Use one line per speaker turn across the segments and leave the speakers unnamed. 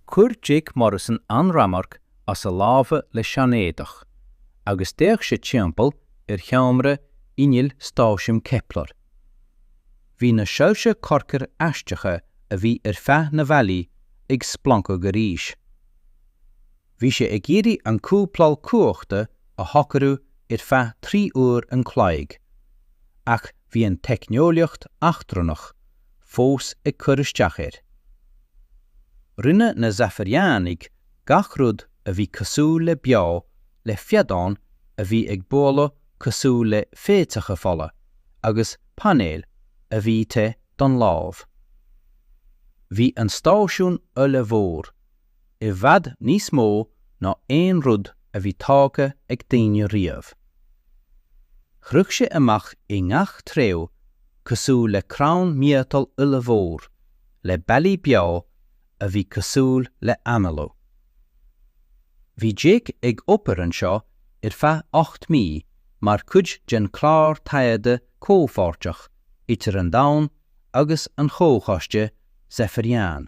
Chuir Jake Morrison an ramharc as a lámha le seanéadach, agus d'fhéach sé timpeall ar sheomra innill stáisiún Kepler. Bhí na soilse corcair aisteacha a bhí ar feadh na bhfallaí ag splancadh arís. Bhí sé ag iarraidh an cúpláil cumhachta a shocrú ar feadh trí uair an chloig, ach bhí an teicneolaíocht eachtrannach fós ag cur isteach air. Rinne na Zafariánaigh gach rud a bhí cosúil le beo le feadáin a bhí ag bualadh cosúil le féitheacha fola agus painéil a bhí te don lámh. Bhí an stáisiún ollmhór. i bhfad níos mó ná aon rud a bhí tógtha ag daoine riamh. Shroich sé amach i ngach treo cosúil le crann miotail ollmhór le bealaí beo a bhí cosúil le análú. Bhí Jake ag obair anseo ar feadh ocht mí mar chuid den chlár taighde comhpháirteach idir an Domhan agus an Chomhchoiste Zafarian.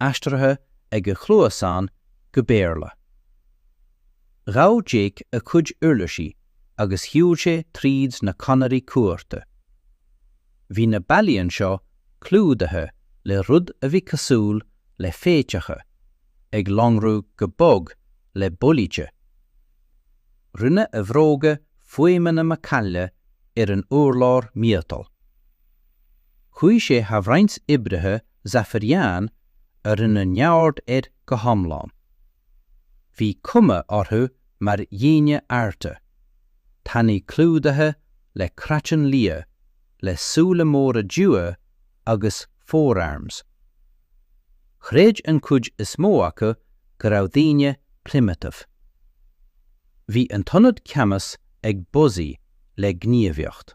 aistrithe ag a chluasáin go Béarla. Ghabh Jake a chuid uirlisí agus shiúil sé tríd na conairí cuarta. Bhí na bealaí anseo clúdaithe le rud a bhí cosúil le féitheacha ag lonrú go bog le bolice. Rinne a bhróga fuaimeanna macaille ar an urlár miotail. Chuaigh sé thar roinnt oibrithe Zafarian a rinne neamhaird air go hiomlán. Bhí cuma orthu mar dhaoine arda, tanaí clúdaithe le craiceann liath, le súile móra dubha agus forearms. Chreid an chuid is mó acu go raibh daoine primitive. Bhí an t-ionad ceannais ag buzzáil le gníomhaíocht.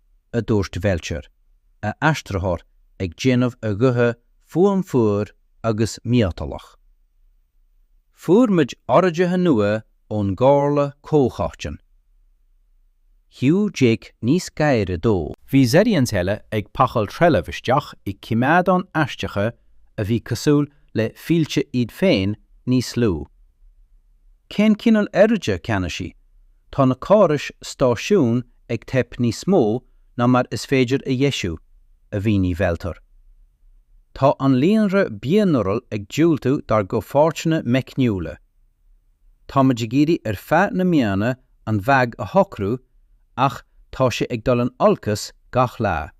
a dúirt Bhelcher, a aistritheoir ag déanamh a ghuth fuaim fuar agus miotalach. Fuair muid orduithe nua ón gComhairle Comhchoiteann. Shiúil Jake níos gaire dó. Bhí Zerions eile ag pacáil trealamh isteach i coimeádáin aisteacha a bhí cosúil le fillteh iad féin níos lú. Cén cineál orduithe, Ceannasaí? Tá na córais stáisiúin ag teip níos mó ná mar is féidir a dheisiú, a mhínigh Veltar. Tá an líonra bio-neural ag diúltú dár gcomhpháirteanna meicniúla. Táimid ag iarraidh ar feadh na míonna an fhadhb a shocrú ach tá sé ag dul in olcas gach lá.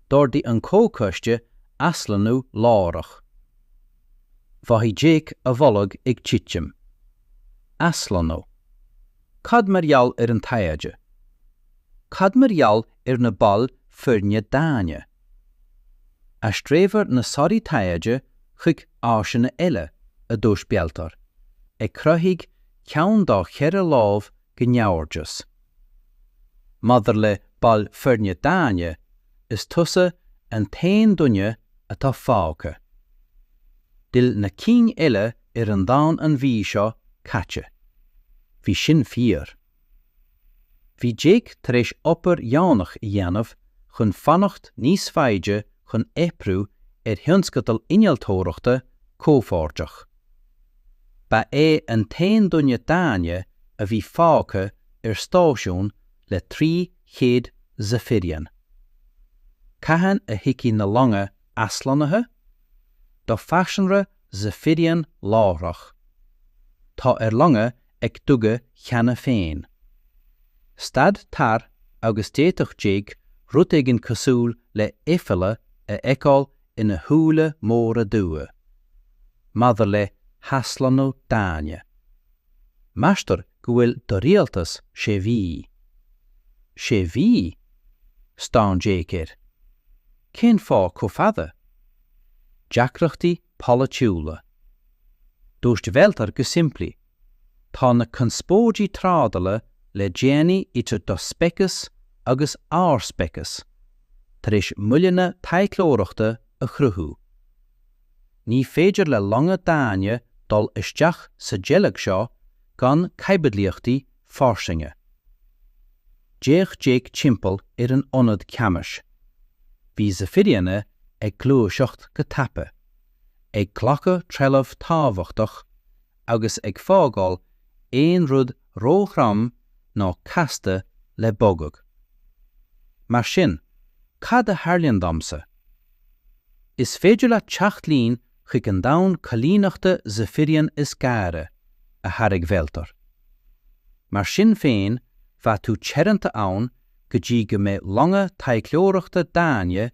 D'ordaigh an Comhchoiste aslonnú láithreach. Mhothaigh Jake a bholg ag titim. Aslonnú. Cad mar gheall ar an taighde? Cad mar gheall ar na baill foirne daonna? Aistreofar na sonraí taighde chuig áiseanna eile, a dúirt Veltar, ag croitheadh ceann dá cheithre lámh go ngabhairdeas. Maidir le baill foirne daonna, is tusa an t-aon duine atá fágtha. D'fhill na cinn eile ar an domhan an mhí seo caite. Bhí sin fíor. Bhí Jake tar éis obair dheonach a dhéanamh chun fanacht níos faide chun oibriú ar thionscadal innealtóireachta comhpháirteach. Ba é an t-aon duine daonna a bhí fágtha ar stáisiún le 300 Zephyrian. Cathain a thiocfaidh na longa aslonnaithe? Do phearsanra Zephyrian láithreach. Tá ár longa ag duga cheana féin. Stad tar agus d'fhéadfadh Jake rud éigin cosúil le aiféala a fheiceáil ina shúile móra dubha. Maidir le haslonnú daonna. Meastar go bhfuil do rialtas sé mhí. Sé mhí? Stán Jake air. Cén fáth chomh fada? Deacrachtaí polaitiúla. Dúirt Veltar go simplí. Tá na conspóidí trádala le déanaí idir do speiceas agus ár speiceas tar éis moilleanna taidhleoireachta a chruthú. Ní féidir le longa daonna dul isteach sa deighleog seo gan caibidlíochtaí fairsinge. D'fhéach Jake timpeall ar an ionad ceannais. Bhí Zephyrianaigh ag gluaiseacht go tapa, ag glacadh trealamh tábhachtach agus ag fágáil aon rud ró-throm ná casta le bogadh. Mar sin, cad a tharlaíonn domsa? Is féidir leat teacht linn chuig an domhan coilíneachta Zephyrian is gaire, a thairg Veltar. Mar sin féin, bheadh tú teoranta ann go dtí go mbeidh longa taidhleoireachta daonna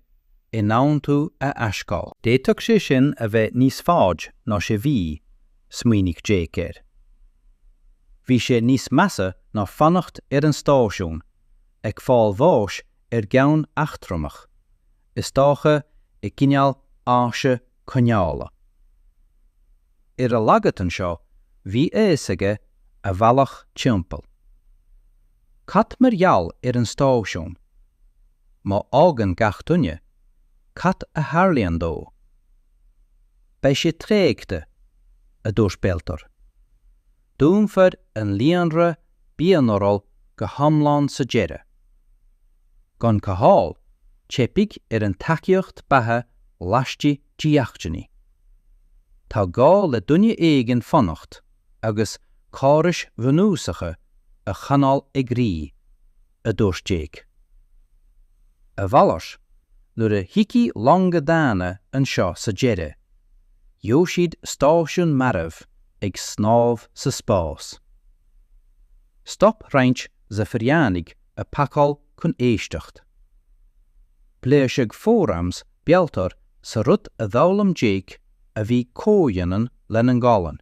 in ann tú a aisghabháil. D'fhéadfadh sé sin a bheith níos faide ná sé mhí, smaoinigh Jake air. Bhí sé níos measa ná fanacht ar an stáisiún, ag fáil bháis ar gceann eachtrannach, is dócha i gcineál áise coinneála. Ar a laghad anseo, bhí a fhios aige a bhealach timpeall. Cad mar gheall ar an stáisiún? Má fhágann gach duine, cad a tharlaíonn dó? Beidh sé tréigthe, a dúirt Veltor. Dúnfar an líonra bio-neural go hiomlán sa deireadh. Gan cothabháil, teipfidh ar an tacaíocht beatha laistigh de sheachtainí. Tá gá le duine éigin fanacht agus córais bhunúsacha a choinneáil ag rith, a dúirt Jake. A mhalairt, nuair a thiocfaidh longa daonna anseo sa deireadh, gheobhaidh siad stáisiún marbh ag snámh sa spás. Stop roinnt Zifiriánaigh ag pacáil chun éisteacht. Pléascadh forearms Veltor sa rud a d'fhoghlaim Jake a bhí comhionann lena ngualainn.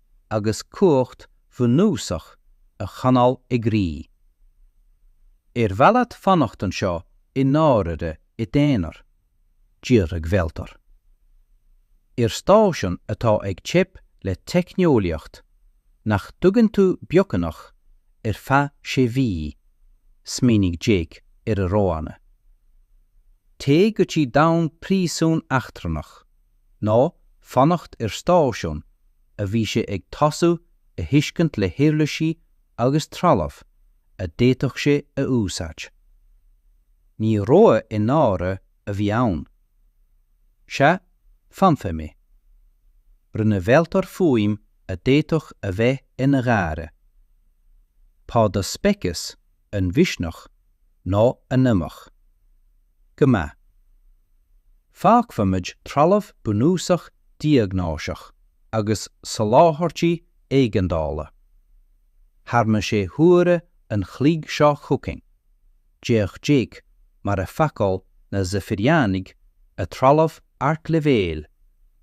agus cumhacht bhunúsach a choinneáil ag rith. Ar mhaith leat fanacht anseo i ndáiríre i d'aonar? d'fhiafraigh Veltor. Ar stáisiún atá ag teip le teicneolaíocht, nach dtuigeann tú beagnach ar feadh sé mhí? smaoinigh Jake ar a roghanna. Téigh go dtí domhan príosún eachtrannach. nó fanacht ar stáisiún a bhí sé ag tosú a thuiscint le huirlisí agus trealamh a d'fhéadfadh sé a úsáid. Ní rogha i ndáiríre a bhí ann. Sea, fanfaidh mé. Rinne Veltor fuaim a d'fhéadfadh a bheith ina gháire. Tá do speiceas. an-mhisneach nó an-amaideach. Go maith. Fágfaimid trealamh bunúsach diagnóiseach agus soláthairtí éigeandála thar na sé huaire an chloig seo chugainn, d'fhéach Jake mar a phacáil na Zifiriánaigh a dtrealamh ardleibhéil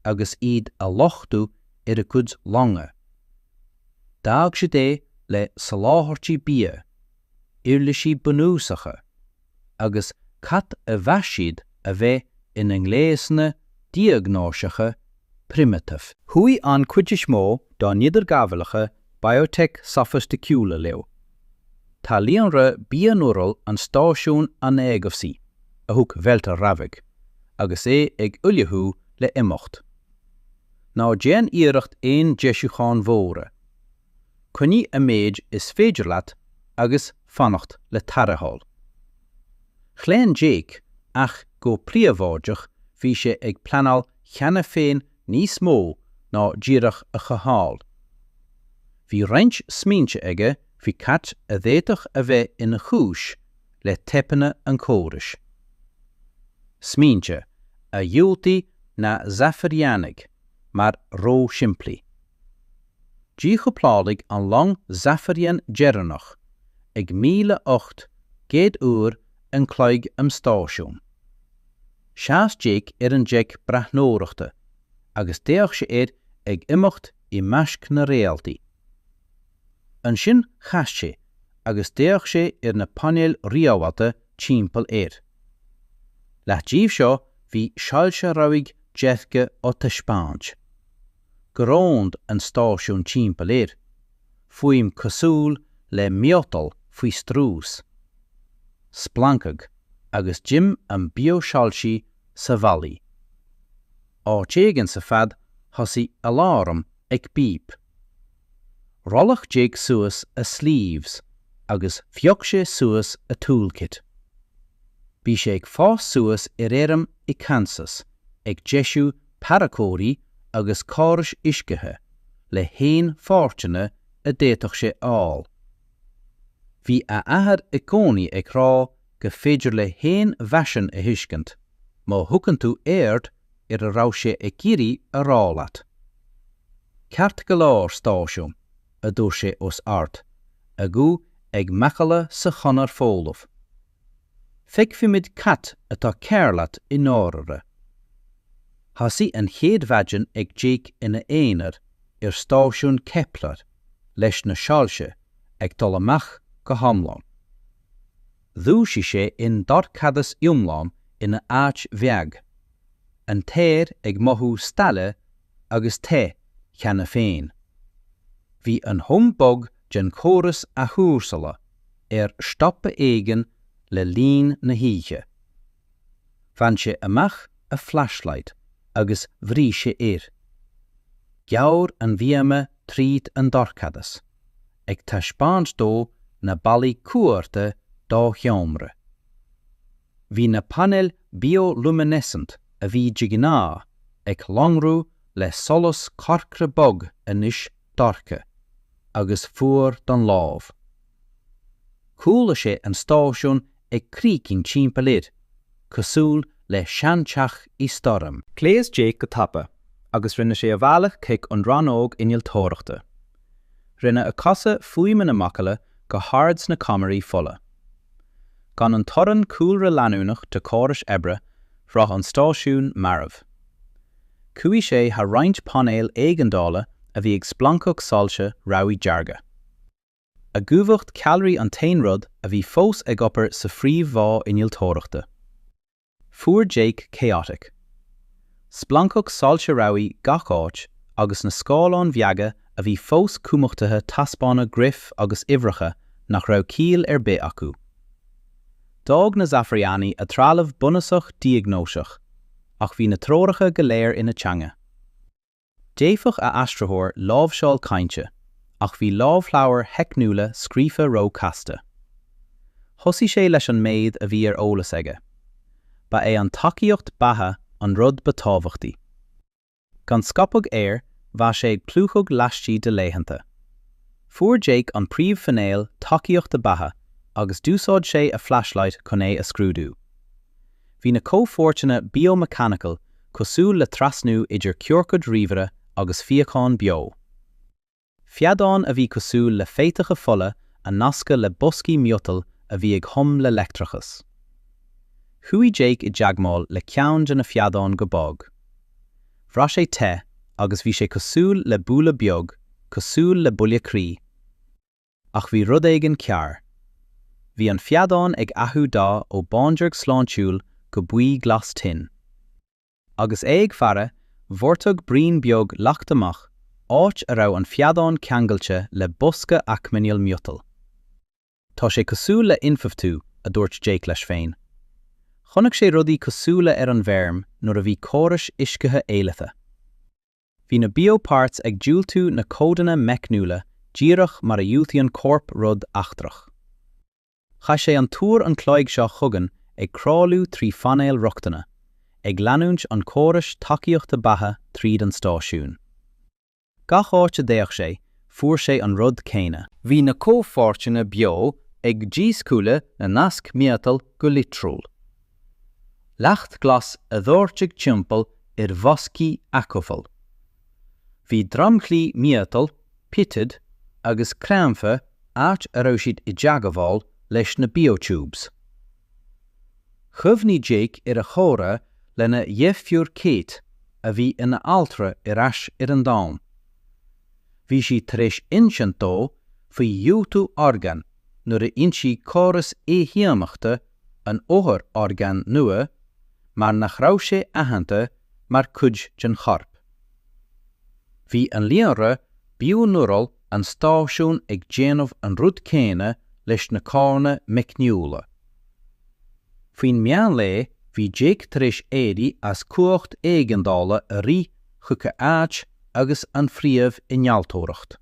agus iad á luchtú ar a gcuid longa. D'fhág siad é le soláthairtí bia, uirlisí bunúsacha agus cad a mheas siad a bheith ina ngléasanna diagnóiseacha primitive. Chuaigh an chuid is mó dá n-idirghabhálacha biotech sofaisticiúla leo. Tá líonra bio-neural an stáisiúin an-éagobhsaí, a thug Velter rabhaidh, agus é ag ullmhú le imeacht. Ná déan iarracht aon deisiúcháin mhóra. Coinnigh an méid is féidir leat agus fanacht le tarrtháil. Chlaon Jake ach go príobháideach bhí sé ag pleanáil cheana féin níos mó ná díreach a chothabháil. Bhí roinnt smaointe aige faoi cad a d'fhéadfadh a bheith ina chúis le teipeanna an chórais. Smaointe a dhiúltaigh na Zaifiriánaigh mar ró-shimplí. Díchúpláladh an long Zaifirián deireanach ag míle ocht gcéad uair an chloig am stáisiún. Sheas Jake ar an deic breathnóireachta agus d'fhéach sé air ag imeacht i measc na réaltaí. Ansin chas sé agus d'fhéach sé ar na painéil rialaithe timpeall air. Leath díobh seo bhí soilse rabhaidh deirge á dtaispeáint. Groaned an stáisiún timpeall air, fuaim cosúil le miotal faoi strús. Splancaigh agus dim an biosoilsí sa bhallaí. Áit éigin sa fad thosaigh aláram ag bíp. Rolladh Jake suas a sleeves agus phioc sé suas a toolkit. Bhí sé ag fás suas ar fheirm i Kansas ag deisiú tarracóirí agus córais uiscithe le haon pháirteanna a d'fhéadfadh sé a fháil. Bhí a athair i gcónaí ag rá go féidir le haon mheaisín a thuiscint má thugann tú aird ar a raibh sé ag iarraidh a rá leat. Ceart go leor, stáisiún, a dúirt sé os ard, a ghuth ag macalla sa chonair folamh. Feicfimid cad atá cearr leat i ndáirire. Thosaigh an chéad mhaidin ag Jake ina aonar ar stáisiún Kepler leis na soilse ag dul amach go hiomlán. Dhúisigh sé i ndorchadas iomlán ina áit bheag, an t-aer ag mothú stálaithe agus te cheana féin. Bhí an hum bog den chóras athchúrsála ar stopadh éigin le linn na hoíche. Bhain sé amach a flashlight agus bhrúigh sé air. Ghearr an bhíoma tríd an dorchadas. ag taispeáint dó na ballaí cuarta dá sheomra. Bhí na painéil bioluminescent a bhí de ghnáth ag lonrú le solas corcra bog anois dorcha agus fuar don lámh. Chuala sé an stáisiún ag crícinn timpeall air, cosúil le seanteach i stoirm. Ghléas Jake go
tapa agus rinne sé a bhealach chuig an rannóg innealtóireachta. Rinne a chosa fuaimeanna macalla go hard sna conairí folmha. Gan an torann cúlra leanúnach de chórais oibre, bhraith an stáisiún marbh. Chuaigh sé thar roinnt painéal éigeandála a bhí ag splancadh soilse rabhaidh dearga. a gcumhacht ceallraí an t-aon rud a bhí fós ag obair sa phríomh-bhá innealtóireachta. Fuair Jake chaotic. Splancadh soilse rabhaidh gach áit agus na scáileáin bheaga a bhí fós cumhachtaithe taispeánann graif agus uimhreacha nach raibh ciall ar bith acu. D'fhág na Zafariani a dtrealamh bunúsach diagnóiseach, ach bhí na treoracha go léir ina teanga. D'fhéadfadh a aistritheoir láimhseáil cainte, ach bhí lámhleabhair theicniúla scríofa ró-chasta. Thosaigh sé leis an méid a bhí ar eolas aige. Ba é an tacaíocht beatha an rud ba tábhachtaí. Gan scaipeadh aeir, bheadh sé ag plúchadh laistigh de laethanta. Fuair Jake an príomh-phainéal tacaíochta beatha, agus d'úsáid sé a flashlight chun é a scrúdú. Bhí na comhpháirteanna Biomechanical cosúil le trasnú idir ciorcad ríomhaire agus fíochán beo. Feadán a bhí cosúil le féitheacha fola a nascadh le boscaí miotail a bhí ag hum le leictreachas. Chuaigh Jake i dteagmáil le ceann de na feadáin go bog. Bhraith sé te agus bhí sé cosúil le bualadh beag, cosúil le buille croí. Ach bhí rud éigin cearr. Bhí an feadán ag athrú dath ó bhándearg sláintiúil go buí glas tinn. Agus é ag faire, dhoirteadh braoin beag leacht amach, áit a raibh an feadán ceangailte le bosca acomhail miotail. Tá sé cosúil le infabhtú, a dúirt Jake leis féin. Chonaic sé rudaí cosúla ar an bhfeirm nuair a bhí córais uiscithe éillithe. Bhí na bioparts ag diúltú na codanna meicniúla díreach mar a dhiúltaíonn corp rud eachtrach. Chaith sé an t-uair an chloig seo chugainn ag crawláil trí phainéil rochtana, ag leanúint an chórais tacaíochta beatha tríd an stáisiún. Gach áit a ndeachaigh sé, fuair sé an rud céanna. Bhí na comhpháirteanna beo ag díscúladh na nasc miotail go litriúil. Leacht glas á dhoirteadh timpeall ar bhoscaí acomhail. Bhí dromchlaí miotail, pitted, agus creimthe áit a raibh siad i dteagmháil leis na biotubes. Chuimhnigh Jake ar a chomhrá lena dheirfiúr Kate, a bhí ina altra ar ais ar an Domhan. Bhí sí tar éis insint dó faoi dhiúltú orgán nuair a ionsaíonn córas imdhíonachta an othair orgán nua mar nach raibh sé aitheanta mar cuid den chorp. Bhí an líonra bioneural an stáisiún ag déanamh an rud céanna leis na codanna meicniúla. Faoin meánlae bhí Jake tar éis éirí as cumhacht éigeandála a rith chuig a áit agus an phríomh innealtóireacht.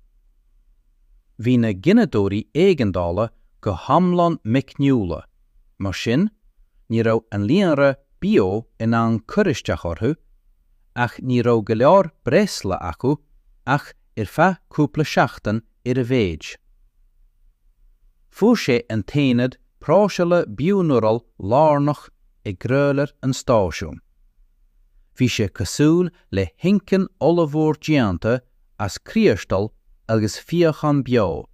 Bhí na gineadóirí éigeandála go hiomlán meicniúla, mar sin ní raibh an líonra beo in ann cur isteach orthu, ach ní raibh go leor breosla acu ach ar feadh cúpla seachtain ar a mhéid. Fuair sé an t-aonad próiseála bioneural lárnach i gcroílar an stáisiúin. Bhí sé cosúil le hinchinn ollmhór déanta as criostal agus fíochán beo,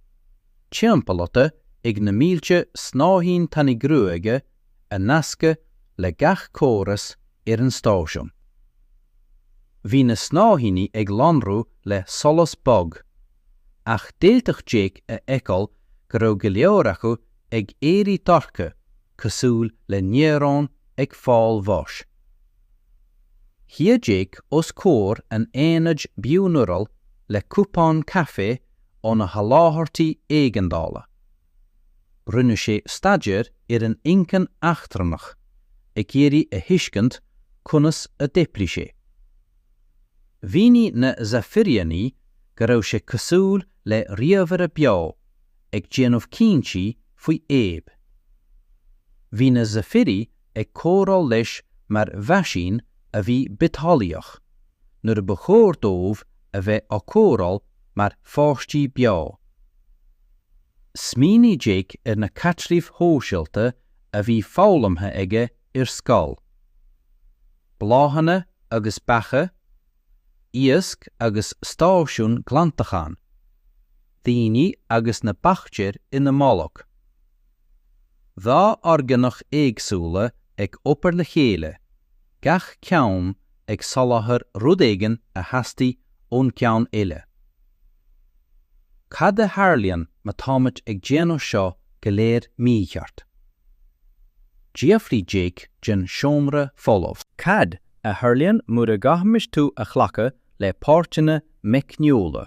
timpeallaithe ag na mílte snáithín tanaí gruaige a nascadh le gach córas ar an stáisiún. Bhí na snáithíní ag lonrú le solas bog, ach d'fhéadfadh Jake a fheiceáil go raibh go leor acu ag éirí dorcha cosúil le néaróin ag fáil bháis. Shuigh Jake os comhair an aonaid bioneural le cupán caife óna sholáthairtí éigeandála. Rinne sé staidéar ar an inchinn eachtrannach, ag iarraidh a thuiscint conas a d'oibrigh sé. Mhínigh na Zaphiriani go raibh sé cosúil le ríomhaire beo ag déanamh cinntí faoi Abe. Bhí na Zephyri ag comhrá leis mar mheaisín a bhí bitheolaíoch, nuair ba chóir dóibh a bheith á cóireáil mar pháistí beo. Smaoinigh Jake ar na caidrimh shóisialta a bhí foghlamtha aige ar scoil. Bláthanna agus beacha, iasc agus stáisiúin glantacháin. daoine agus na baictéir ina mbolg. Dhá orgánach éagsúla ag obair le chéile, gach ceann ag soláthar rud éigin a theastaigh ón gceann eile. Cad a tharlaíonn má táimid ag déanamh seo go léir mícheart? D'fhiafraigh Jake den seomra folamh. Cad a tharlaíonn mura gcaithfimis thú a ghlacadh le páirteanna meicniúla?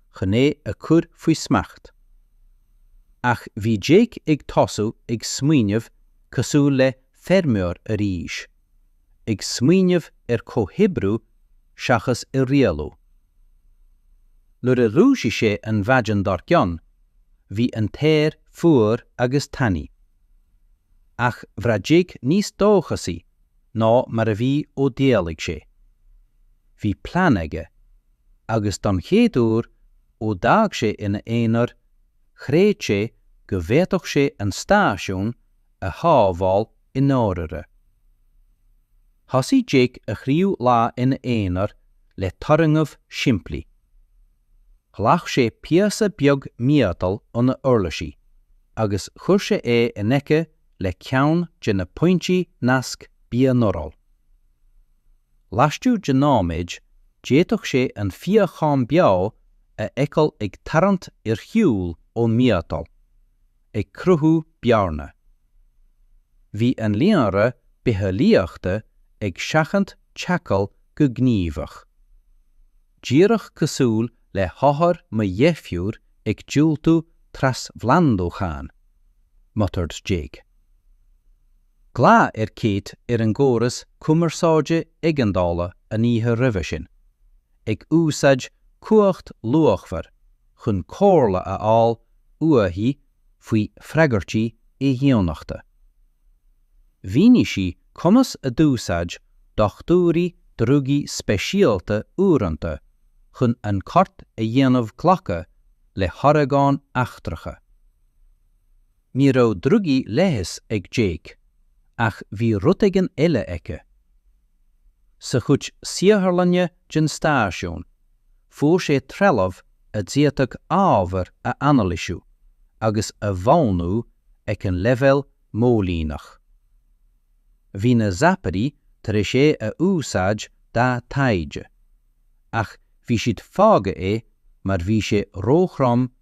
chun é a chur faoi smacht. Ach bhí Jake ag tosú ag smaoineamh cosúil le feirmeoir arís, ag smaoineamh ar chomhoibriú seachas ar rialú. Nuair a dhúisigh sé an mhaidin dár gcionn, bhí an t-aer fuar agus tanaí. Ach bhraith Jake níos dóchasaí ná mar a bhí ó d'éalaigh sé. Bhí plean aige, Agus don chéad uair ó d'fhág sé ina aonar, chreid sé go bhféadfadh sé an stáisiún a shábháil i ndáiríre. Thosaigh Jake a thríú lá ina aonar le turgnamh simplí. Ghlach sé píosa beag miotail óna uirlisí agus chuir sé é in aici le ceann de na pointí nasc bionéarach. Laistigh de nóiméid, d'fhéadfadh sé an fíochán beo a fheiceáil ag tarraingt ar shiúl ón miotal, ag cruthú bearna. Bhí an líonra bitheolaíochta ag seachaint teagmháil
go gníomhach. Díreach cosúil le hothair mo dheirféar ag diúltú trasphlandúcháin. Muttered Jake. Ghlaoigh sé ar Kate ar an gcóras cumarsáide éigeandála an oíche roimhe sin, ag úsáid cumhacht luachmhar chun comhairle a fháil uaithi faoi freagairtí imdhíonachta. Mhínigh sí conas a d'úsáid dochtúirí drugaí speisialta uaireanta chun an corp a dhéanamh glacadh le horgáin eachtracha. Ní raibh drugaí leighis ag Jake ach bhí rud éigin eile aige. Sa chuid saotharlainne den stáisiún, fuair sé trealamh a d'fhéadfadh ábhair a anailisiú agus a mhodhnú ag an leibhéal móilíneach. Bhí na zapairí tar éis é a úsáid dá taighde, ach bhí siad fágtha é mar bhí sé róthrom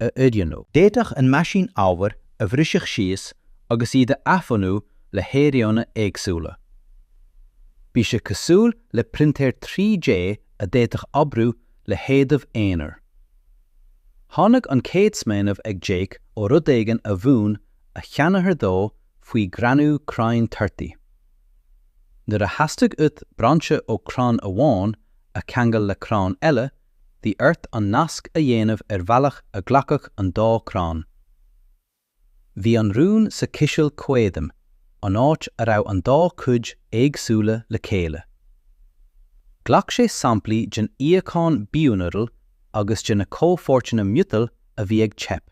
a oiriúnú. D'fhéadfadh an meaisín ábhair a bhriseadh síos agus iad a athbhunú le hairíonna éagsúla. Bhí sé cosúil le printéir 3D a d'fhéadfadh oibriú le hadaimh aonair. Tháinig an chéad smaoineamh ag Jake ó rud éigin a mhúin a sheanathair dó faoi ghreannú crainn torthaí. Nuair a theastaigh uait brainse ó chrann amháin a cheangal le crann eile, bhí ort an nasc a dhéanamh ar bhealach a ghlacfadh an dá chrann. Bhí an rún sa chiseal caidrimh, an áit a raibh an dá chuid éagsúla le chéile. Ghlac sé samplaí den fhíochán bionéarach agus de na comhpháirteanna miotail a bhí ag teip.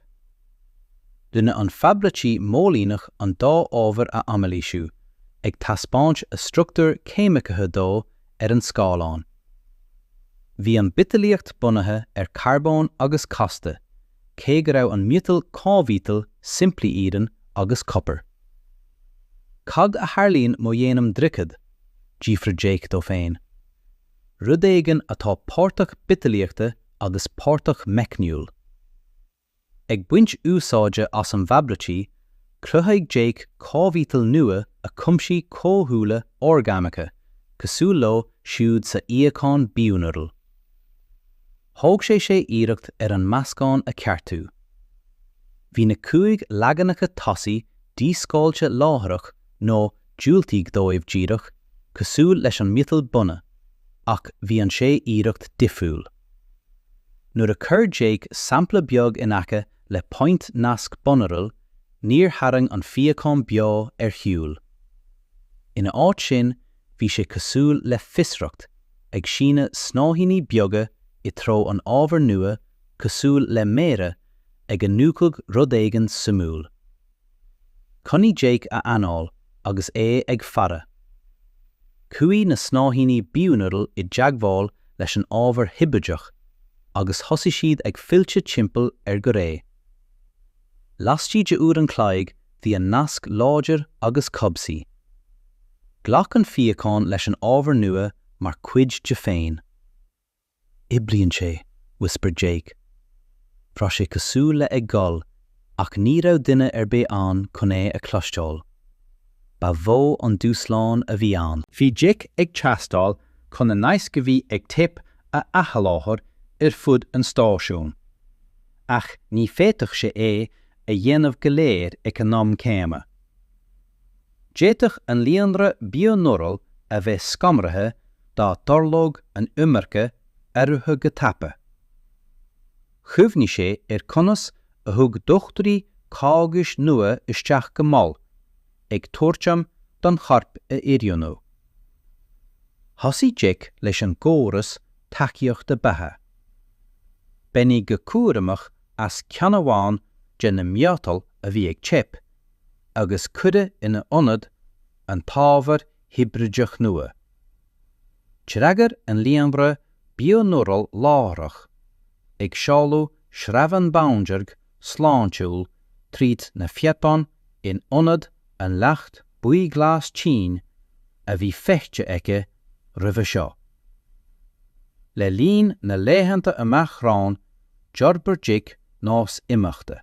Rinne an fabraicí móilíneach an dá ábhar a anailísiú, ag taispeáint a struchtúir cheimiceacha dó ar an scáileán. Bhí an bhitheolaíocht bunaithe ar carbón agus casta, cé go raibh an miotal cóimhiotal simplí iarann agus copar. Cad a tharlaíonn má dhéanaim droicead? d'fhiafraigh Jake dó féin. Rud éigin atá páirteach bitheolaíochta agus páirteach meicniúil. Ag baint úsáide as an bhfabraicí, chruthaigh Jake cóimhiotal nua a chuimsigh comhdhúile orgánacha cosúil leo siúd sa fhíochán bionéarach. Thóg sé sé iarracht ar an meascán a cheartú. Bhí na cúig leaganacha tosaigh díscáilte láithreach nó diúltaíodh dóibh díreach cosúil leis an miotal bunaidh, ach bhí an sé iarracht difriúil. Nuair a chuir Jake sampla beag in aice le pointe nasc bionéarach, níor tharraing an fíochán beo ar shiúl. Ina áit sin, bhí sé cosúil le fiosracht, ag síneadh snáithíní beaga i treo an ábhair nua cosúil le méara ag iniúchadh rud éigin suimiúil. Choinnigh Jake a anáil agus é ag faire. Chuaigh na snáithíní bionéarach i dteagmháil leis an ábhar hibrideach agus thosaigh siad ag filleadh timpeall air go réidh. Lastigh de uair an chloig bhí an nasc láidir agus cobhsaí. Ghlac an fíochán leis an ábhar nua mar chuid de féin. Oibríonn sé, whispered Jake. Bhraith sé cosúil le ag gol ach ní raibh duine ar bith ann chun é a chloisteáil. Ba mhó an dúshlán a bhí ann. Bhí Jake ag teastáil chun na naisc a bhí ag teip a athsholáthar ar fud an stáisiúin. Ach ní féadfadh sé é a dhéanamh go léir ag an am céanna. D'fhéadfadh an líonra bioneural a bheith scanraithe dá dtarlódh an iomarca athruithe go tapa. Chuimhnigh sé ar conas a thug dochtúirí cógais nua isteach go mall, ag tabhairt am don chorp a oiriúnú. Thosaigh Jake leis an gcóras tacaíochta beatha. Baineadh go cúramach as ceann amháin de na miotail a bhí ag teip, agus cuireadh ina ionad an t-ábhar hibrideach nua. D'fhreagair an líonra bioneural láithreach, ag seoladh sreabhán bándearg sláintiúil tríd na píobáin in ionad an leacht buí-glas tinn a bhí feichte aici roimhe seo. Le linn na laethanta amach romhainn d'fhorbair Jake nós imeachta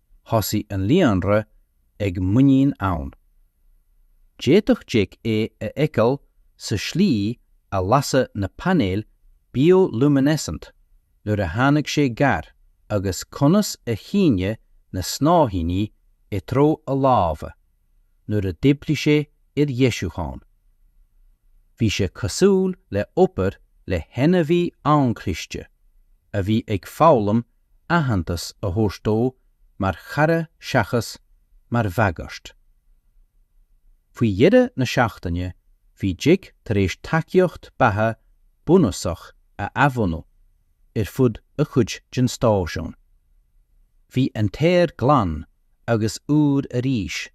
thosaigh an líonra ag muinín ann. D'fhéadfadh Jake é a fheiceáil sa slí a lasadh na painéil bioluminescent nuair a tháinig sé gar agus conas a shíneadh na snáithíní i dtreo a láimhe. nuair a d'oibrigh sé ar dheisiúcháin. Bhí sé cosúil le obair le hainmhí an-chliste a bhí ag foghlaim aitheantas a thabhairt dó mar chara seachas mar bhagairt. Faoi dheireadh na seachtaine bhí Jake tar éis tacaíocht beatha bunúsach a athbhunú ar fud a chuid den stáisiún. Bhí an t-aer glan agus úr arís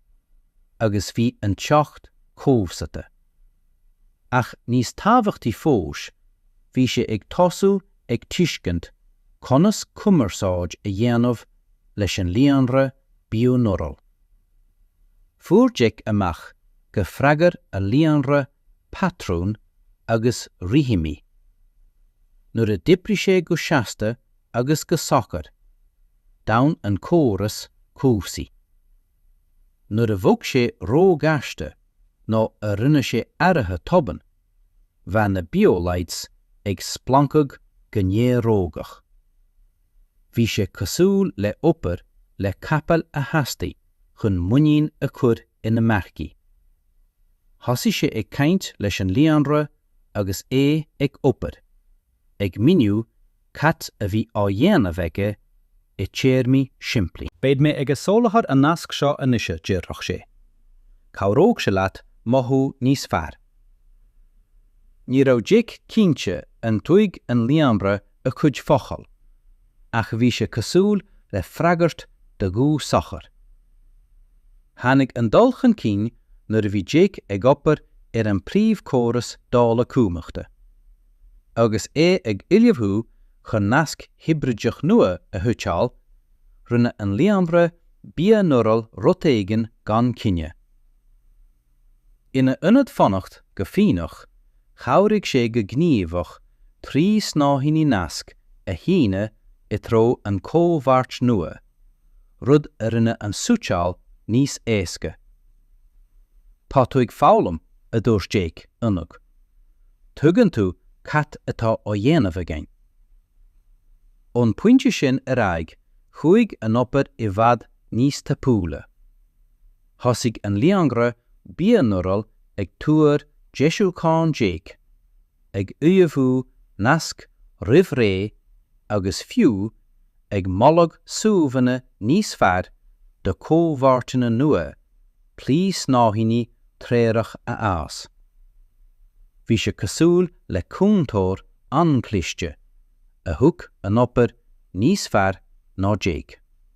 agus bhí an teocht cobhsata. Ach níos tábhachtaí fós bhí sé ag tosú ag tuiscint conas cumarsáid a dhéanamh leis an líonra bioneural. Fuair Jake amach gur fhreagair an líonra patrún agus rithimí. Nuair a d'oibrigh sé go seasta agus go socair, d'fhan an córas cobhsaí. Nuair a bhog sé róghasta nó a rinne sé athruithe tobann, bheadh na biolights ag splancadh go néarógach. Bhí sé cosúil le obair le capaill a theastaigh chun muinín a chur ina marcaigh. Thosaigh sé ag caint leis an líonra agus é ag obair, ag míniú cad a bhí á dhéanamh aige i dtéarmaí simplí. Beidh mé ag soláthar
an nasc seo anois a déarfadh sé. Cabhródh sé leat mothú níos fearr. Ní raibh Jake cinnte an dtuigeadh an líonra a chuid focal, ach bhí sé cosúil le freagairt dá ghuth socair. Tháinig an dul chun cinn nuair a bhí Jake ag obair ar an bpríomhchóras dála cumhachta. Agus é ag ullmhú chun nasc hibrideach nua a shuiteáil, rinne an líonra bia-néarach rud éigin gan choinne. In ionad fanacht go foighneach, chabhraigh sé go gníomhach trí snáithíní naisc a shíneadh i dtreo an chomhpháirt nua, rud a rinne an suiteáil níos éasca. Tá tú ag foghlaim, a dúirt Jake, ionadh. Tuigeann tú cad atá á dhéanamh againn. Ón bpointe sin ar aghaidh chuaigh an obair i bhfad níos tapúla. Thosaigh an líonra bia-néarach ag tuar deisiúcháin Jake, ag ullmhú naisc roimh ré agus fiú ag moladh suíomhanna níos fearr do chomhpháirteanna nua trí snáithíní treorach a fhás. Bhí sé cosúil le cúntóir an-chliste, a thuig an obair níos fearr ná Jake.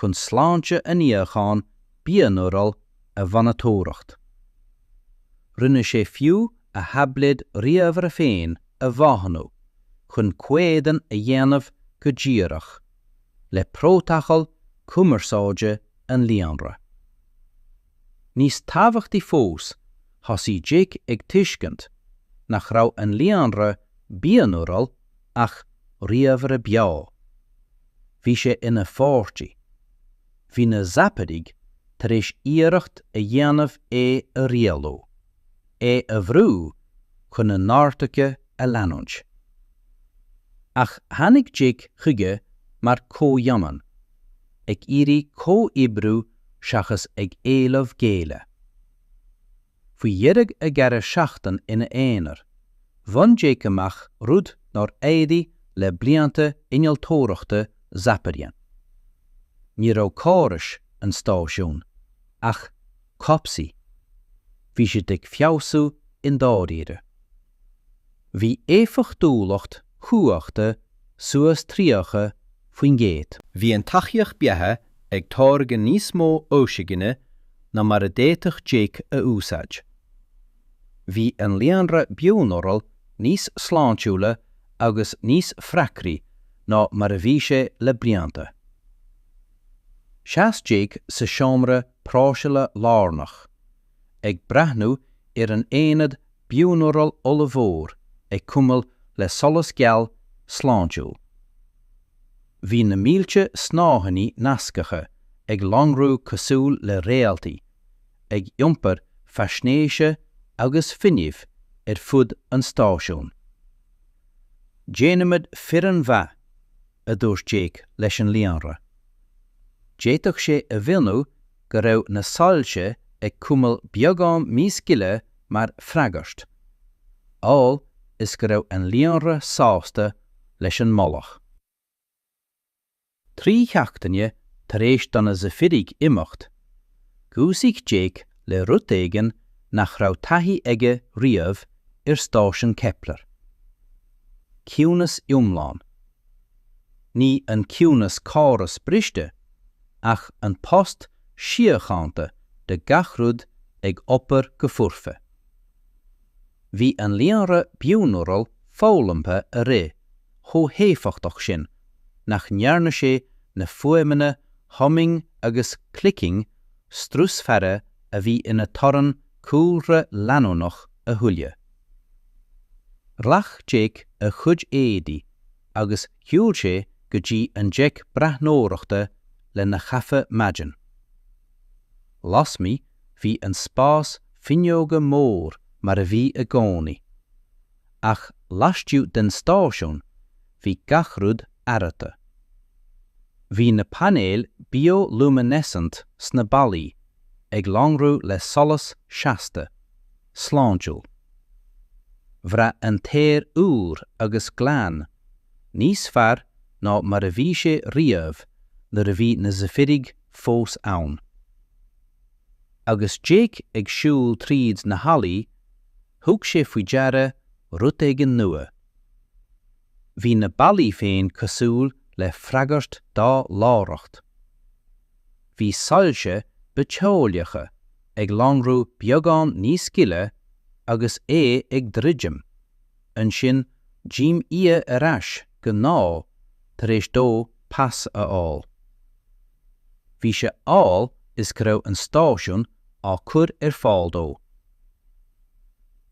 chun sláinte an fhíocháin bia-néaraigh a mhonatóireacht. Rinne sé fiú a thaibléad ríomhaire féin a mhodhnú chun comhéadan a dhéanamh go díreach le prótacal cumarsáide an líonra. Níos tábhachtaí fós, thosaigh Jake ag tuiscint nach raibh an líonra bia-néarach ach ríomhaire beo. Bhí sé ina pháirtí. Bhí na Zaparaigh tar éis iarracht a dhéanamh é a rialú, é a bhrú chun a n-orduithe a leanúint. Ach tháinig Jake chuige mar chomhionann, ag
iarraidh comhoibriú seachas ag éileamh géilleadh. Faoi dheireadh an dara seachtain ina aonar, bhain Jake amach rud nár éirigh le blianta innealtóireachta Zapparian. Ní raibh córais an stáisiúin, ach cobhsaí. Bhí siad ag feabhsú i ndáiríre. Bhí éifeachtúlacht cumhachta suas 30%. Bhí an tacaíocht
beatha ag táirgeadh níos mó ocsaigine ná mar a d'fhéadfadh Jake a
úsáid. Bhí an líonra bioneural níos sláintiúla agus níos freagraí ná mar a bhí sé le blianta. Sheas Jake sa seomra próiseála lárnach, ag breathnú ar an aonad bioneural ollmhór ag cuimil le solas geal, sláintiúil. Bhí na mílte snáithíní nascacha ag lonrú cosúil le réaltaí, ag iompar faisnéise agus fuinnimh ar fud an stáisiúin. Déanaimid foireann mhaith, a dúirt Jake leis an Líonra. D'fhéadfadh sé a mhionnú go raibh na soilse ag cuimil beagán níos gile mar freagairt, amhail is go raibh an líonra sásta leis an moladh. Trí sheachtaine tar éis do na Zaifirigh imeacht, dhúisigh Jake le rud éigin nach raibh taithí aige riamh ar stáisiún Kepler. Ciúnas iomlán. Ní an ciúnas córas briste, ach an tost síochánta de gach rud ag obair go foirfe. Bhí an líonra bioneural foghlamtha a rith chomh héifeachtach sin nach ndearna sé na fuaimeanna humming agus clicking strusmhara a bhí ina torann cúlra leanúnach a thuilleadh. Ghlac Jake a chuid éadaí agus shiúl sé go dtí an deic breathnóireachta lena chaife maidin. Lasmuigh bhí an spás fuinneoga mór mar a bhí i gcónaí, ach laistiugh den stáisiún bhí gach rud athraithe. Bhí na painéil bioluminescent sna ballaí ag lonrú le solas seasta. sláintiúil. Bhraith an t-aer úr agus glan, níos fearr ná mar a bhí sé riamh nuair a bhí na Zaifirigh fós ann. Agus Jake ag siúl tríd na hallaí, thug sé faoi deara rud éigin nua. Bhí na ballaí féin cosúil le freagairt dá láithreacht. bhí soilse bitheolaíocha ag lonrú beagán níos gile agus é ag druidim, ansin d'imíodh ar ais go gnáth tar éis dó pas a fháil. Bhí sé amhail is go raibh an stáisiún á cur ar fáil dó.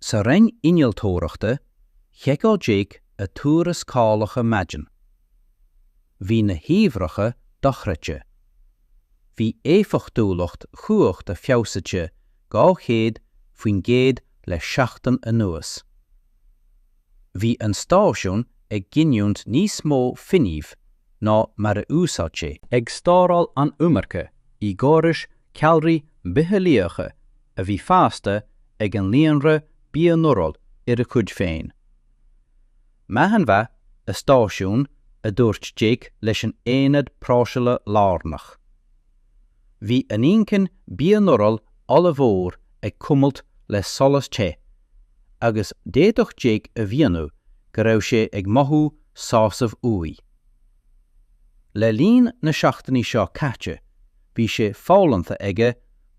Sa roinn innealtóireachta, sheiceáil Jake a tuarascálacha maidin Bhí na huimhreacha dochreidte. Bhí éifeachtúlacht chumhachta feabhsaite 200% le seachtain anuas. Bhí an stáisiún ag giniúint níos mó fuinnimh ná mar a úsáid sé. Ag stóráil an iomarca i gcórais ceallraí bitheolaíocha a bhí fásta ag an líonra bioneural ar a chuid féin. Maidin mhaith, a stáisiún, a dúirt Jake leis an aonad próiseála lárnach. Bhí an inchinn bioneural ollmhór ag cuimilt le solas te, agus d'fhéadfadh Jake a mhionnú go raibh sé ag mothú sásaimh uaidh. Le linn na seachtainí seo caite, bhí sé foghlamtha aige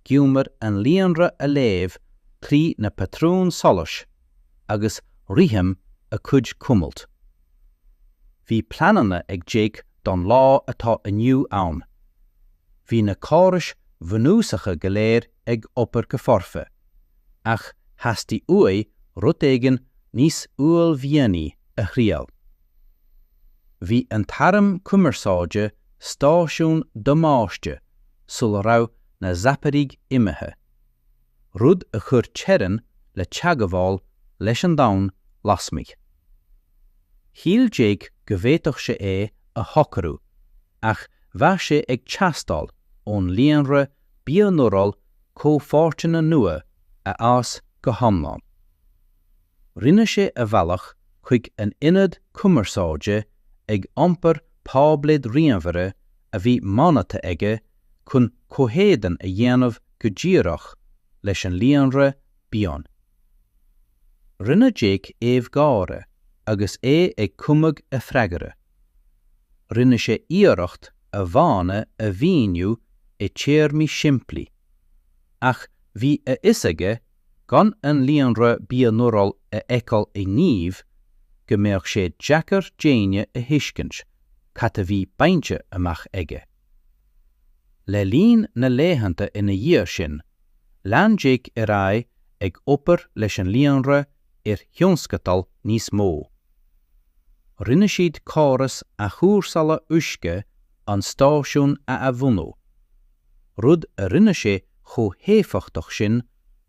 giúmar an líonra a léamh trí na patrúin solais a agus rithim a cuid cuimilt. Bhí pleananna ag Jake don lá atá inniu ann. Bhí na córais bhunúsacha go léir ag obair go foirfe, ach theastaigh uaidh rud éigin níos uaillmhianaí a thriail. Bhí an t-arm cumarsáide stáisiún damáiste sula raibh na Zaipirigh imithe. rud a chuir teorainn le teagmháil leis an domhan lasmuigh. Shíl Jake go bhféadfadh sé é a shocrú ach bheadh sé ag teastáil ón líonra bioneural comhpháirteanna nua a fhás go hiomlán. Rinne sé a bhealach chuig an ionad cumarsáide ag iompar táibléad ríomhaire a bhí modhnaithe aige chun comhéadan a dhéanamh go díreach leis an líonra bion. Rinne Jake aoibh gáire agus é ag cumadh a freagra. Rinne sé iarracht a mhodhanna a mhíniú i téarmaí simplí, ach bhí a fhios aige gan an líonra bioneural a fheiceáil i ngníomh go mbeadh sé deacair d'éinne a thuiscint cad a bhí bainte amach aige. Le linn na laethanta ina dhiaidh sin, lean Jake ar aghaidh ag obair leis an líonra ar thionscadail níos mó. Rinne siad córas athchúrsála uisce an stáisiúin a athbhunú, rud a rinne sé chomh héifeachtach sin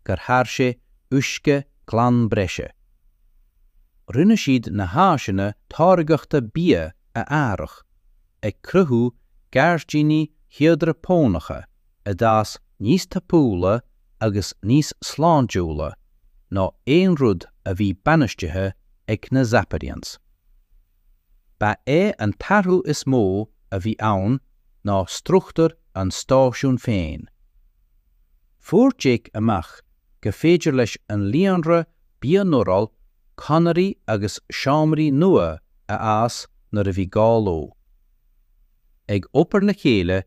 gur tháirg sé uisce glan breise. Rinne siad na háiseanna táirgeachta bia a athrach ag cruthú gairdíní hiodrapónacha a d'fhás níos tapúla agus níos sláintiúla ná aon rud a bhí bainistithe ag na Zapadians. Ba é an t-athrú is mó a bhí ann ná struchtúr an stáisiúin féin. Fuair Jake amach gur féidir leis an líonra bionéarach conairí agus seomraí nua a fhás nuair a bhí gá leo. Ag obair le chéile,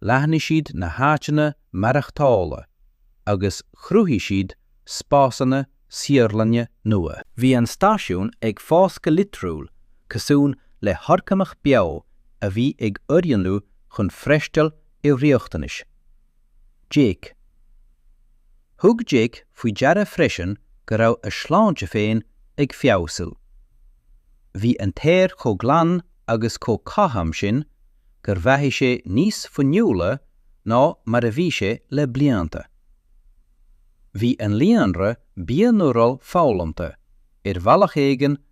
leathnaigh siad na háiteanna maireachtála agus chruthaigh siad spásanna saotharlainne nua. Bhí an stáisiún ag fás go litriúil cosúil le horgánach beo a bhí ag oiriúnú chun freistal ar riachtanais. Jake. Thug Jake faoi deara freisin go raibh a shláinte féin ag feabhsú. Bhí an t-aer chomh glan agus chomh cothrom sin gur mhothaigh sé níos fuinniúla ná mar a bhí sé le blianta. Bhí an líonra bionéarach foghlamtha, ar bhealach éigin,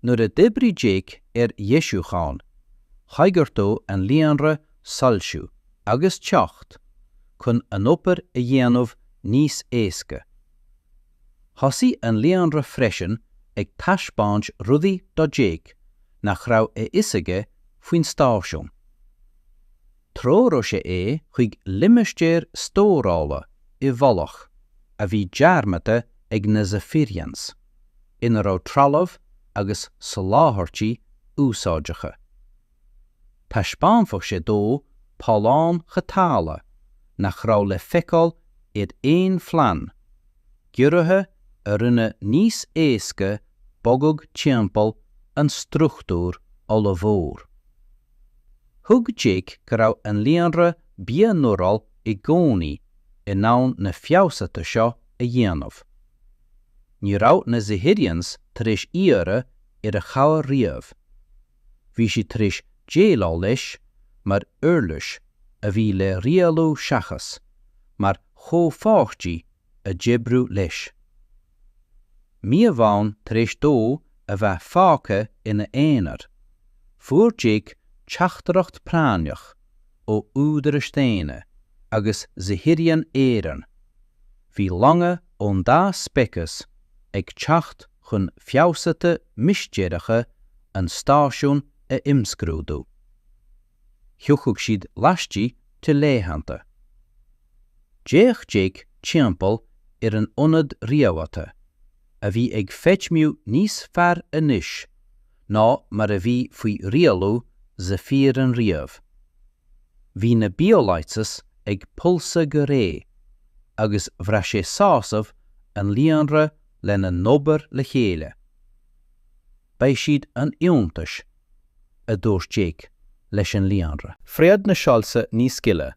Nuair a d'oibrigh Jake ar dheisiúcháin, choigeartódh an líonra soilsiú agus teocht chun an obair a dhéanamh níos éasca. Thosaigh an líonra freisin ag taispeáint rudaí do Jake nach raibh a fhios aige faoin stáisiún. Threoródh sé é chuig limistéar stórála i bhfolach a bhí dearmadta ag na Zafirians, ina raibh trealamh agus soláthairtí úsáideacha. Thaispeánfadh sé dó tolláin chothabhála nach raibh le feiceáil ar aon phlean, giorruithe a rinne níos éasca bogadh timpeall an struchtúir ollmhór. Thuig Jake go raibh an líonra bionéarach i gcónaí in ann na feabhsuithe seo a dhéanamh. Ní raibh na Zahirians tar éis iarraidh air a chabhair riamh. Bhí siad tar éis déileáil leis mar uirlis a bhí le rialú seachas mar chomhpháirtí le hoibriú leis. Mí amháin tar éis dó a bheith fágtha ina aonar, fuair Jake teachtaireacht práinneach ó údarais daonna agus Zahirian araon, bhí longa ón dá speiceas ag teacht chun feabhsuithe mistéireacha an stáisiúin a imscrúdú. thiocfadh siad laistigh de laethanta. D'fhéach Jake timpeall ar an ionad rialaithe, a bhí ag feidhmiú níos fearr anois ná mar a bhí faoi rialú Zephyrian riamh. Bhí na biolights ag pulsadh go réidh, agus bhraith sé sásamh an líonra lena n-obair le chéile. Beidh siad an-iontais a dúirt Jake leis an líonra. Phreab na
soilse níos gile,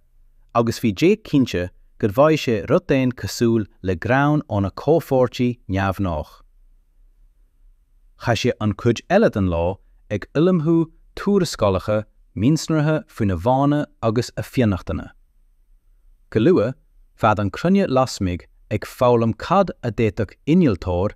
agus bhí Jake cinnte go bhfaigh sé rud éigin cosúil le greann óna chomhpháirtí neamhghnách. Chaith sé an chuid eile den lá ag ullmhú tuarascálacha mionsonraithe faoina mhodhanna agus a fionnachtana. Go luath, bheadh an chruinne lasmuigh ag foghlaim cad a d'fhéadfadh innealtóir,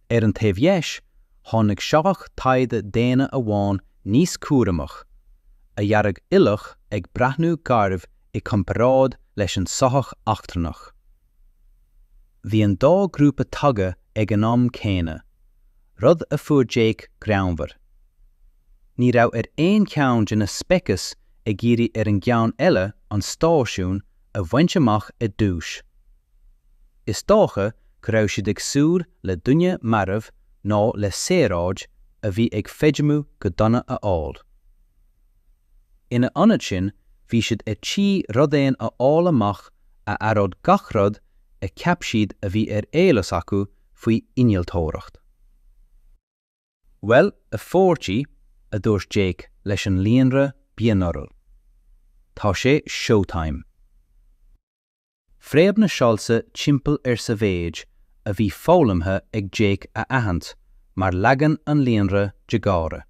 Ar an taobh dheis, tháinig soitheach taighde daonna amháin níos cúramach, a dhearadh uilleach ag breathnú garbh i gcomparáid leis an soitheach eachtrannach. Bhí an dá grúpa tagtha ag an am céanna, rud a fuair Jake greannmhar. Ní raibh aon cheann de na speicis ag iarraidh ar an gceann eile an stáisiún a bhaint amach i dtús. is dócha go raibh siad ag súil le duine marbh nó le saoráid a bhí ag feidhmiú go dona a fháil. Ina ionad sin bhí siad ar tí rud éigin a fháil amach a athródh gach rud a cheap siad a bhí ar eolas acu faoi innealtóireacht. Bhuel, a pháirtí, a dúirt Jake leis an líonra bioneural. Tá sé showtime. Phreab na soilse timpeall air sa mhéid a bhí foghlamtha ag Jake a aithint mar leagan an líonra de gáire.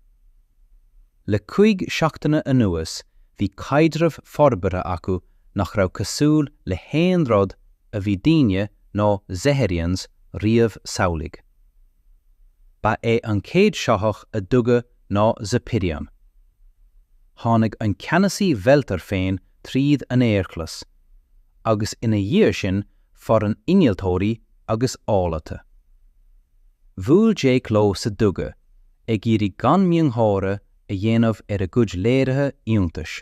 Le cúig seachtaine anuas bhí caidreamh forbartha acu nach raibh cosúil le haon rud a bhí daoine ná Zephyrians riamh samhlaigh. Ba é an chéad shoitheach a dhug ná Zephyrian. Tháinig an ceannasaí Veltar féin tríd an aerghlas, agus ina dhiaidh sin foireann innealtóirí agus eolaithe. Bhuail Jake leo sa duga, ag iarraidh gan miongháire a dhéanamh ar a gcuid léirithe iontais.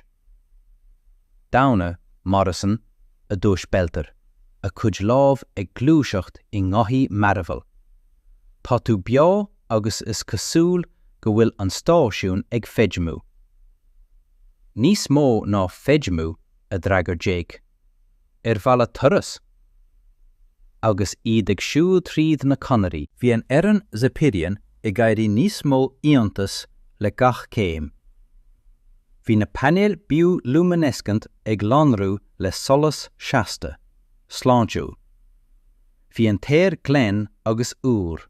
Daonna, Morrison, a dúirt Veltar, a chuid lámh ag gluaiseacht i ngothaí mearbhaill. Tá tú beo agus is cosúil go bhfuil an stáisiún ag feidhmiú. Níos mó ná feidhmiú, a d'fhreagair Jake. Ar mhaith leat turas? Agus iad ag siúl tríd na conairí, bhí an fhoireann Zepirian ag éirí níos mó iontais le gach céim Bhí na painéil bioluminescent ag lonrú le solas seasta, sláintiúil. Bhí an t-aer glen agus úr.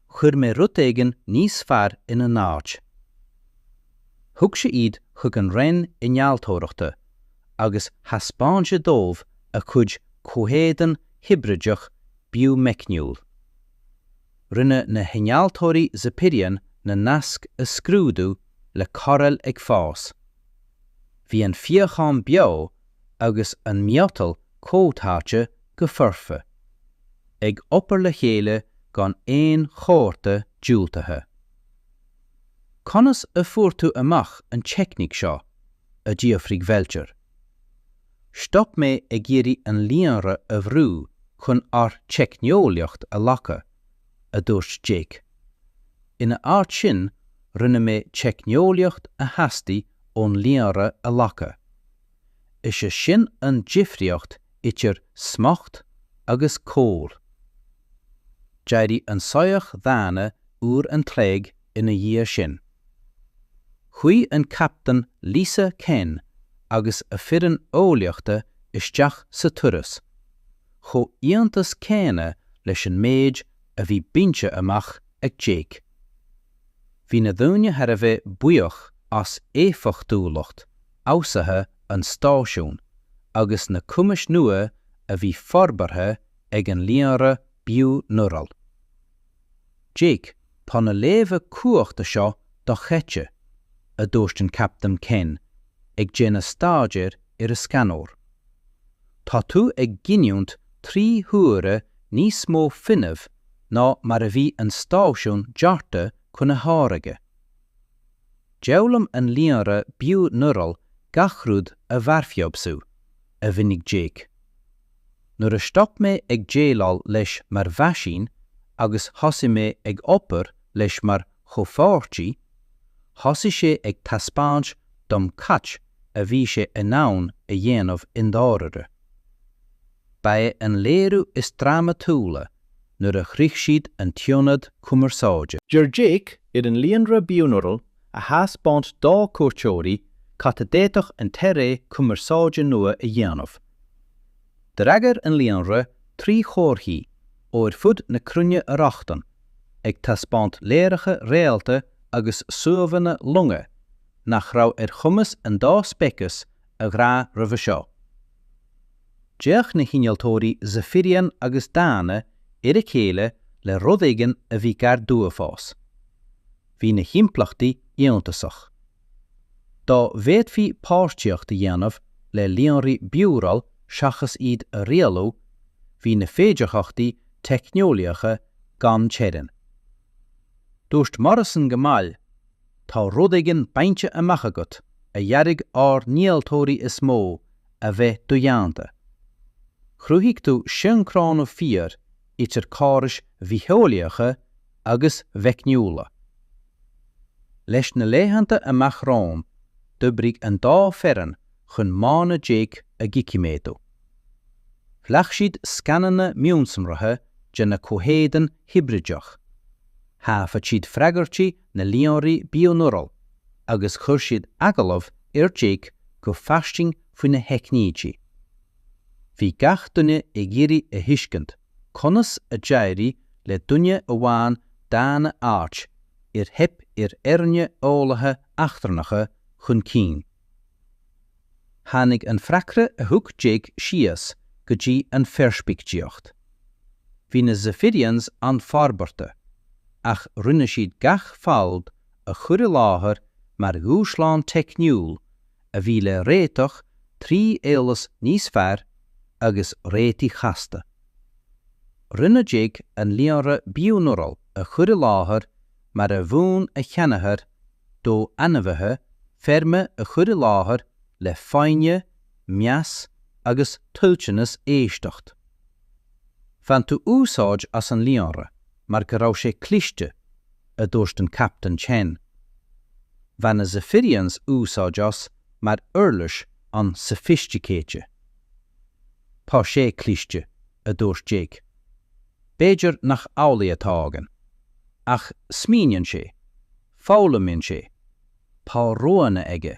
Chuir mé rud éigin níos fearr ina n-áit. Thug sé iad chuig an Roinn Innealtóireachta agus thaispeáin sé dóibh a chuid comhéadan hibrideach bithmheicniúil. Rinne na hinnealtóirí Zepirian na naisc a scrúdú le cairéil ag fás. Bhí an fíochán beo agus an miotal comhtháite go foirfe, ag obair le chéile gan aon chomhartha diúltaithe. Conas a fuair tú amach an teicníc seo? a d'fhiafraigh Velter. Stop mé ag iarraidh an líonra a bhrú chun ár teicneolaíocht a ghlacadh, a dúirt Jake. Ina áit sin, rinne mé teicneolaíocht a theastaigh ón líonra a ghlacadh. Is é sin an difriocht idir smacht agus col. D'éirigh an soitheach daonna uair an chloig ina dhiaidh sin. Chuaigh an Captaen Lisa Ken agus a foireann eolaíochta isteach sa turas, chomh iontas céanna leis an méid a bhí bainte amach ag
Jake. Bhí na daoine thar a bheith buíoch as éifeachtúlacht fheabhsaithe an stáisiún agus na cumais nua a bhí forbartha ag an líonra bio-neural. Jake, tá na léamha cumhachta seo do-chaite, a dúirt an Captaen Ken, ag déanamh staidéir ar a scanóir. Tá tú ag giniúint trí huaire níos mó fuinnimh ná mar a bhí an stáisiún deartha chun a tháirgeadh. D'fhoghlaim an líonra bio-neural gach rud a bharrfeabhsú, a mhínigh Jake. Nuair a stop mé ag déileáil leis mar mheaisín agus thosaigh mé ag obair leis mar chomhpháirtí, thosaigh sé ag taispeáint dom cad a bhí sé in ann a dhéanamh i ndáirire. Ba é an léiriú is drámatúla nuair a shroich siad an t-ionad cumarsáide. D'iarr
Jake ar an líonra Bioneural a thaispeáint dá cuairteoirí cad a d'fhéadfadh an t-eagar cumarsáide nua a dhéanamh. D'fhreagair an líonra trí chomharthaí ó ar fud na cruinne a rochtain, ag taispeáint léaráidí réalta agus suíomhanna long nach raibh ar chumas an dá speiceas a bhrath roimhe seo. D'fhéach na hinnealtóirí Zephyrian agus daonna ar a chéile le rud éigin a bhí gar d'uafás. Bhí na himpleachtaí iontach. Dá bhféadfaí páirtíocht a dhéanamh le líonraí bioneural seachas iad a rialú, bhí na féidearthachtaí teicneolaíocha gan teorainn. Dúirt Morrison go mall, Tá rud éigin bainte amach agat a dhearbhaigh ár n-innealtóirí is mó a bheith dodhéanta. Chruthaigh tú sioncrónú fíor idir córais bhitheolaíocha agus mheicniúla. Sna laethanta amach rompu, d'oibrigh an dá fhoireann chun modhanna Jake a dhoiciméadú. Ghlac siad scananna mionsonraithe de na comhéadain hibrideacha. Thaifead siad freagairtí na líonraí Bioneural agus chuir siad agallamh ar Jake go fairsing faoina theicnící. Bhí gach duine ag iarraidh a thuiscint conas a d'éirigh le duine amháin daonna áit ar theip ar fhoirne eolaithe eachtrannacha chun cinn. Tháinig an freagra a thug Jake síos go dtí an pheirspictíocht. Bhí na Zephyrians an-fhorbartha, ach rinne siad gach fadhb a chur i láthair mar dhúshlán teicniúil a bhí le réiteach trí eolas níos fearr agus réitigh chasta. Rinne Jake an líonra Bioneural a chur i láthair mar a mhúin a sheanathair dó ainmhithe feirme a chur i láthair le foighne, meas agus toilteanas éisteacht. Bhain tú úsáid as an líonra mar go raibh sé cliste, a dúirt an Captaen Chen. Bhain na Zephyrians úsáid as mar uirlis an-soifisticéite. Tá sé cliste, a dúirt Jake. B'fhéidir nach amhlaidh atá againn. Ach smaoiníonn sé. Foghlaimionn sé. Tá roghanna aige.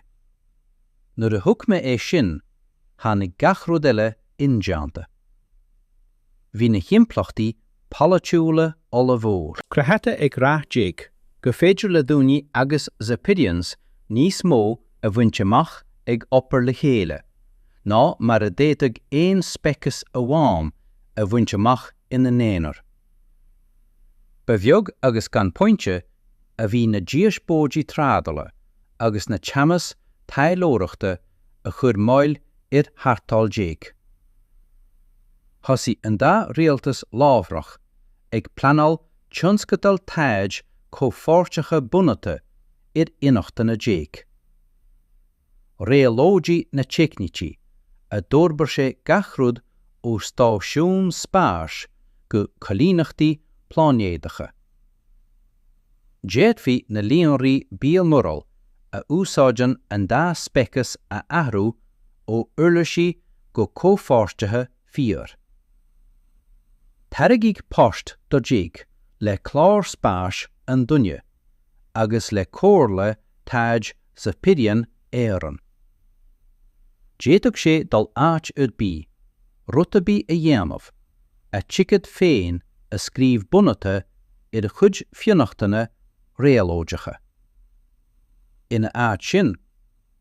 Nuair a thuig mé é sin, tháinig gach rud eile indéanta. Bhí na himpleachtaí polaitiúla ollmhór. Cruthaithe ag rath Jake gur féidir le daoine agus Zephyrians níos mó a bhaint amach ag obair le chéile ná mar a d'fhéadfadh aon speiceas amháin a bhaint amach ina n-aonar. Ba bheag agus gan pointe a bhí na díospóidí trádala agus na teannas taidhleoireachta a chuir moill ar tharrtháil Jake. Thosaigh an dá rialtas láithreach ag pleanáil tionscadail taighde comhpháirteacha bunaithe ar fhionnachtana Jake. Réabhlóideodh na teicnící a d'fhorbair sé gach rud ó stáisiúin spáis go coilíneachtaí pláinéadacha. D'fhéadfaí na líonraí bionural a úsáideann an dá speiceas a athrú ó uirlisí go comhpháirtithe Fíor. Tairgeadh poist do Jake le clár spáis an duine agus le comhairle taighde Zephyrian araon. D'fhéadfadh sé dul áit ar bith, rud ar bith a dhéanamh, a thicéad féin a scríobh bunaithe ar a
chuid fionnachtana réabhlóideacha. Ina áit sin,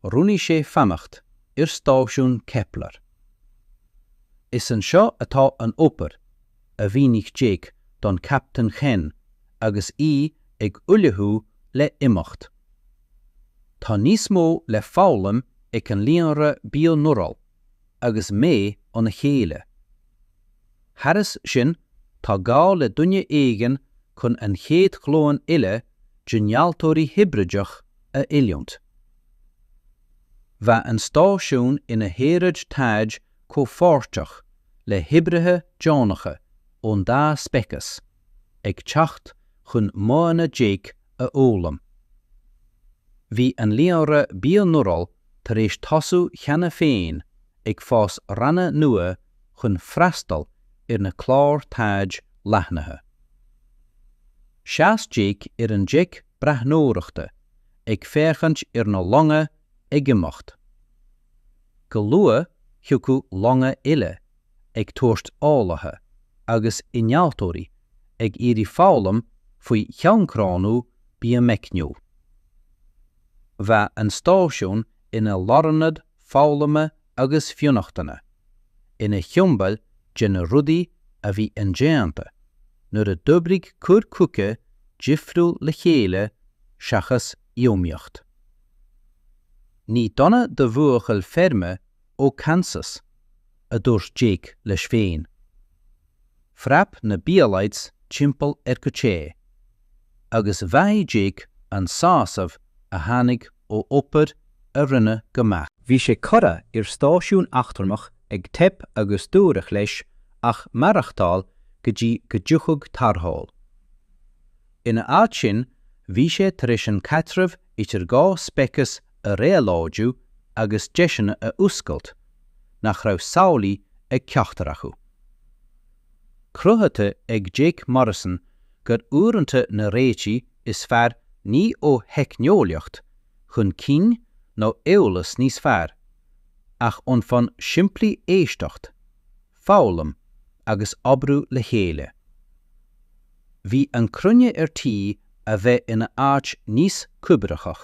Roghnaigh sé fanacht ar stáisiún Kepler. Is anseo atá an obair, a mhínigh Jake don Chaptaen Chen agus í ag ullmhú le imeacht. Tá níos mó le foghlaim ag an líonra Bionural. agus mé óna chéile. Thairis sin, tá gá le duine éigin chun an chéad ghlúin eile d'innealtóirí hibrideach a oiliúnt. Bheadh an stáisiún ina shaoráid taighde comhpháirteach le hoibrithe deonacha ón dá speiceas ag teacht chun modhanna Jake a fhoghlaim. Bhí an Líonra Bionural tar éis tosú cheana féin ag fás ranna nua chun freastal ar na cláir taighde leathnaithe. Sheas Jake ar an deic breathnóireachta ag féachaint ar na longa ag imeacht. Go luath thiocfadh longa eile ag tabhairt eolaithe agus innealtóirí ag iarraidh foghlaim faoi shioncrónú biomeicniúil. Bheadh an stáisiún ina lárionad foghlama agus fionnachtana, ina shiombail de na rudaí a bhí indéanta nuair a d'oibrigh cur chuigí difriúla le chéile seachas iomaíocht. Ní dona do bhuachaill feirme ó Kansas, a dúirt Jake leis féin. Phreab na Bialites timpeall ar go te, agus bhraith Jake an sásamh a tháinig ó obair a rinneadh go maith. Bhí sé
curtha ar stáisiún eachtrannach ag teip agus dúradh leis ach maireachtáil go dtí go dtiocfadh tarrtháil. Ina áit sin bhí sé tar éis an caidreamh idir dhá speiceas a réabhlóidiú agus deiseanna a oscailt nach raibh samhlaithe ag ceachtar acu. Cruthaithe ag Jake Morrison gur uaireanta na réitigh is fearr ní ó theicneolaíocht chun cinn nó eolas níos fearr, ach ón fonn simplí éisteacht, foghlaim agus oibriú le chéile. Bhí an chruinne ar tí a bheith ina áit níos cuibhreachach.